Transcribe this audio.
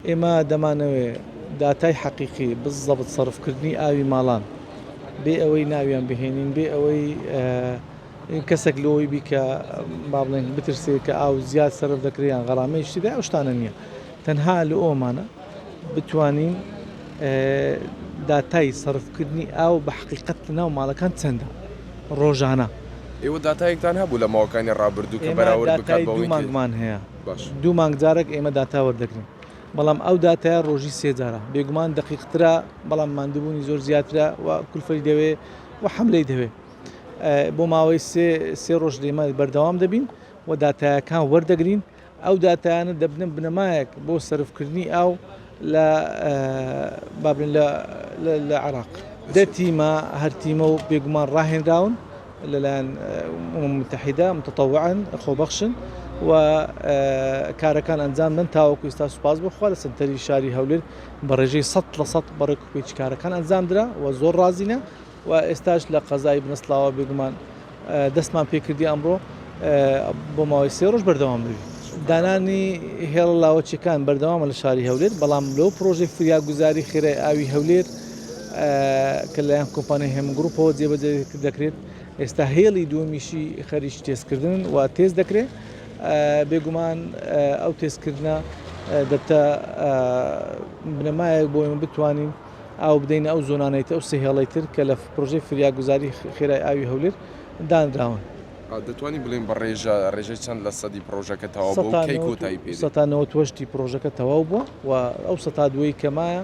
ئێمە دەمانەوێت داتای حەقیقی بزەبت سەرفکردنی ئاوی ماڵان بێ ئەوەی ناویان بهێنین بێ ئەوەی کەسێک لۆی بیکە با بڵێن بترسێت کە ئاو زیاد سەرف دەکریان غەرامەی شتدا ئەو شتانە نییە تەنها لە ئۆمانە بتوانین داتای سەرفکردنی ئاو بە حقیقت لە ناو ماڵەکان چەندە ڕۆژانە. ئێوە داتایەکتان هەبوو لە ماوەکانی ڕابردوو کە بەراورد بکات بەوەی کە. ئێمە داتای دوو مانگمان هەیە. باش. دوو مانگ جارەک ئێمە داتا وەردەگرین بەڵام ئەو داتایە ڕۆژی سێ جارە بێگومان دەقیقترە بەڵام ماندوبوونی زۆر زیاترە و کولفەی دەوێ و حەملەی دەوێ بۆ ماوەی سێ سێ ڕۆژ لێمە بەردەوام دەبین و داتایەکان وەردەگرین ئەو داتایانە دەبنە بنەمایەک بۆ سەرفکردنی ئاو لە بابن لە عێراق دەتیمە هەرتیمە و بێگومان ڕاهێنراون لەلایەن ئومم موتەحیدە متطوعا خۆبەخشن و کارەکان ئەنجام دەن تاوەکو ئیستا سوپاس بۆ خوا لە سەنتەری شاری هەولێر بە ڕێژەی سەد لە سەد بە ڕێک و پێچ کارەکان ئەنجام درا و زۆر ڕازینە و ئێستاش لە قەزای بنەسڵاوە بێگومان دەستمان پێ کردی ئەمڕۆ بۆ ماوەی سێ ڕۆژ بەردەوام بووین دانانی هێڵە لاوەچیەکان بەردەوامە لە شاری هەولێر بەڵام لەو پرۆژەی فریاگوزاری خێرای ئاوی هەولێر کە لەلایەن کۆمپانیای هێمن گرووپەوە جێبەجێ دەکرێت، ئێستا هێڵی دووەمیشی خەریکی تێستکردنن و تێست دەکرێت، بێگومان ئەو تێستکردنە دەبتە بنەمایەک بۆ ئێمە بتوانین ئاو بدەینە ئەو زۆنانەی تر، ئەو سێ هێڵەی تر کە لە پڕۆژەی فریاگوزاری خێرای ئاوی هەولێر دانراون. دەتوانین بڵێین بە ڕێژە، ڕێژەی چەند لە سەدی پڕۆژەکە تەواو بووە و کەی کۆتایی پێدێت؟ سەتا نەوەد و هەشت ی پڕۆژەکە تەواو بووە و ئەو سەتا دووەی کە مایە،